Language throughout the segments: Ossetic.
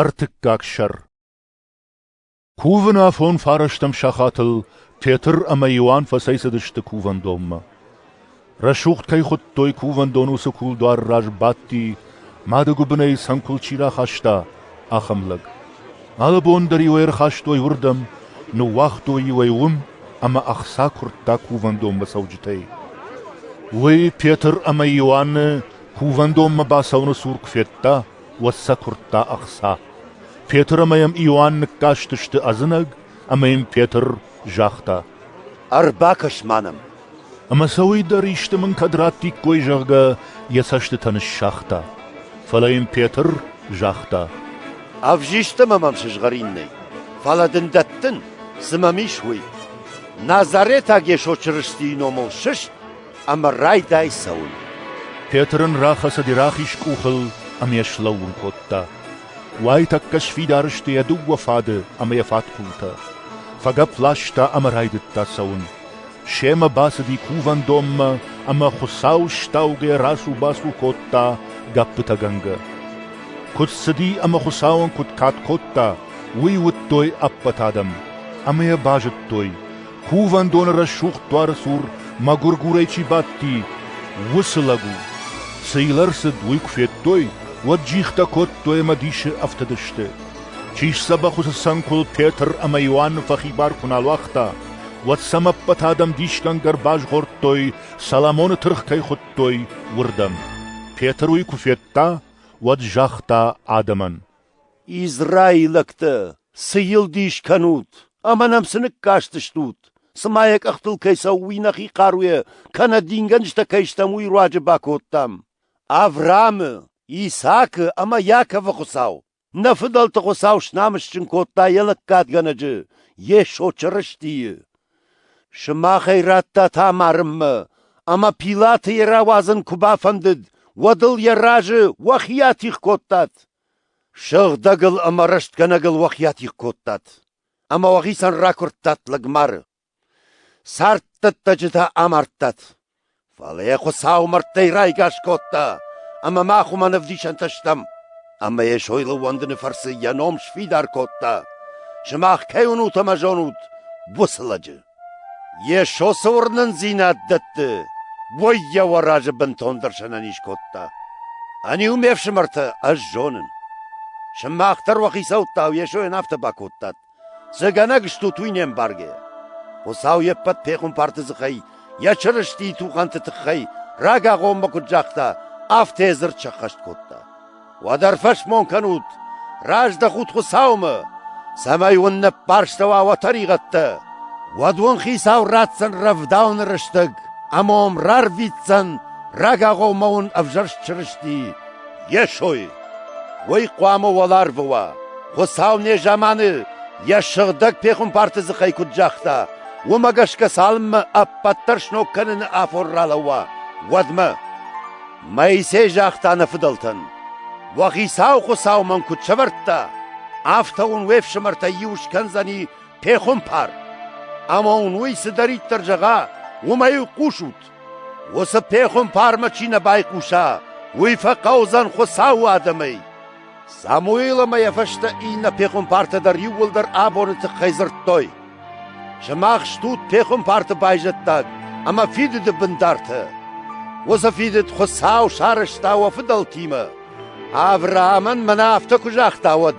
Ӕртыккаг сӕр Кувын афон фарӕстӕм сахатыл Тетыр ӕмӕ Иоанн фӕцӕйцыдысты кувӕндонмӕ. Рӕсугъд кӕй хуыдтой кувӕндон, уыцы кулдуары раз бадти, мады гуыбынӕй цӕнкуыл чи рахаста, ахӕм лӕг. Алы бон дӕр-иу ӕй ӕрхастой уырдӕм, ныууагътой-иу ӕй уым ӕмӕ ӕхца куырдта кувӕндонмӕ цӕуджытӕй. Уый Петр ӕмӕ Иоанны кувӕндонмӕ бацӕуыны цур куы федта, уӕд сӕ куырдта ӕхца. Петр ӕмӕ йӕм Иоанн ныккастысты ӕдзынӕг, ӕмӕ йын Петр загъта: «Ӕрбакӕс-ма нӕм!» Ӕмӕ сӕ уый дӕр исты мын кӕд раттиккой, зӕгъгӕ, йӕ цӕстытӕ ныссагъта. Фӕлӕ йын Петр загъта: «Ӕвзист ӕмӕ мӕм сызгъӕрин нӕй, фӕлӕ дын дӕттын, цы мӕм ис, уый. Назаретаг Йесо Чырыстийы номыл сыст!» ӕмӕ райдай цӕуын. Петр ын рахӕцыди рахиз къухыл ӕмӕ йӕ слӕууын кодта. Уайтӕккӕ сфидар сты йӕ дыууӕ фады ӕмӕ йӕ фатхъултӕ. Фӕгӕпп ласта ӕмӕ райдыдта цӕуын. Семӕ бацыди кувӕндонмӕ ӕмӕ Хуыцау стаугӕ рацу-бацу кодта гӕппытӕгӕнгӕ. Куыд цыди ӕмӕ Хуыцауӕн куыд кад кодта, уый уыдтой ӕппӕт адӕм, ӕмӕ йӕ базыдтой, Кувӕндоны рӕсугъд дуары цур мӕгуыргурӕй чи бадти, уыцы лӕг у. Цы йыл ӕрцыд, уый куы федтой, уӕд джихтӕ кодтой ӕмӕ дисы ӕфтыдысты. Чи сдзӕбӕх уыцы цӕнкуыл Петр ӕмӕ Иоанны фӕхибар куы нал уагъта, уӕд сӕм ӕппӕт адӕм дисгӕнгӕ ӕрбазгъордтой, Соломоны тыргъ кӕй хуыдтой, уырдӕм. Петр уый куы федта, уӕд загъта адӕмӕн: Израилӕгтӕ, цы йыл дис кӕнут ӕмӕ нӕм цы ныккастыстут, цымӕ йӕ къӕхтыл кӕй цӕуы уый нӕхи хъаруйӕ, кӕнӕ дингӕнджытӕ кӕй стӕм, уый руаджы бакодтам? Авраамы, Исаакы ӕмӕ Иаковы Хуыцау, нӕ фыдӕлты Хуыцау снамысджын кодта йӕ лӕггадгӕнӕджы Йесо Чырыстийы. Сымахӕй радтат амарынмӕ, ӕмӕ Пилаты йӕ рауадзын куы бафӕндыд, уӕд ыл йӕ разы уӕхи атигъ кодтат. Сыгъдӕгыл ӕмӕ рӕстгӕнӕгыл уӕхи атигъ кодтат ӕмӕ уӕхицӕн ракуырдтат лӕгмары. Царддӕттӕджытӕ амардтат, фӕлӕ йӕ Хуыцау мӕрдтӕй райгас кодта, ӕмӕ мах уымӕн ӕвдисӕнтӕ стӕм. Ӕмӕ йӕ сойыл ӕууӕндыны фӕрцы йӕ ном сфидар кодта, сымах кӕй уынут ӕмӕ зонут уыцы лӕджы. Йе сосы уырнындзинад дӕтты, уой йӕ уӕ разы бынтондӕр сӕнӕниз кодта. Ӕниу ме фсымӕртӕ, ӕз зонын. Сымах дӕр уӕ хицӕуттау Йесойӕн афтӕ бакодтат. Цы гӕнӕг стут уый не мбаргӕ. Хуыцау йе ппӕт пехуымпарты дзыхӕй, йӕ Чырыстийы тухӕнты тыххӕй рагагъоммӕ куыд загъта, афтӕ йӕ дзырд сӕххӕст кодта. Уӕдӕр фӕсмон кӕнут, раздӕхут Хуцаумӕ, цӕмӕй уын не ппӕрстӕуа уӕ тӕригъӕдтӕ. Уӕд уын Хицау ратдзӕн рӕвдауӕн рӕстӕг ӕма уӕм рарвитдзӕн рагагъоммӕ уын ӕвзӕрст Чырысти Йесой. Уый хъуамӕ уӕларвы уа. Хуцау незаманы йӕ сыгъдӕг пехуымпарты дзыхӕй куыд загъта, уымӕ гӕсгӕ цалынмӕ ӕппӕт дӕр сног кӕныны афон ралӕууа, уӕдмӕ. Моисей загъта нӕ фыдӕлтӕн, уӕ Хицау Хуыцау мӕн куыд сӕвӕрдта, афтӕ уын уе фсымӕртӕй иу скӕндзӕни пехуымпар. Ӕмӕ уын уый цыдӕриддӕр зӕгъа, уымӕй хъусут. Уыцы пехуымпармӕ чи нӕ байхъуса, уый фӕхъӕудзӕн Хуыцауы адӕмӕй. Самуил ӕмӕ йӕ фӕстӕ иннӕ пехуымпартӕ дӕр иууылдӕр абоны тыххӕй дзырдтой: «Сымах стут пехуымпарты байзӕддаг ӕмӕ фидыды бындартӕ. Уыцы фидыд Хуыцау сарӕзта уӕ фыдӕлтимӕ. Авраамӕн мӕнӕ афтӕ куы загъта, уӕд: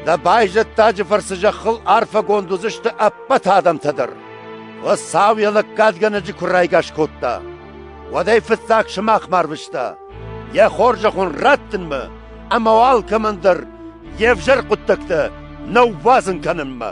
Дӕ байзӕддаджы фӕрцы зӕххыл арфӕгонд уыдзысты ӕппӕт адӕмтӕ дӕр. Хуыцау йӕ лӕггадгӕнӕджы куы райгас кодта, уӕд ӕй фыццаг сымахмӕ арвыста. Йӕ хорзӕх уын раттынмӕ ӕмӕ уӕ алкӕмӕн дӕр йе взӕр хъуыддӕгтӕ нӕ ӕввазын кӕнынмӕ.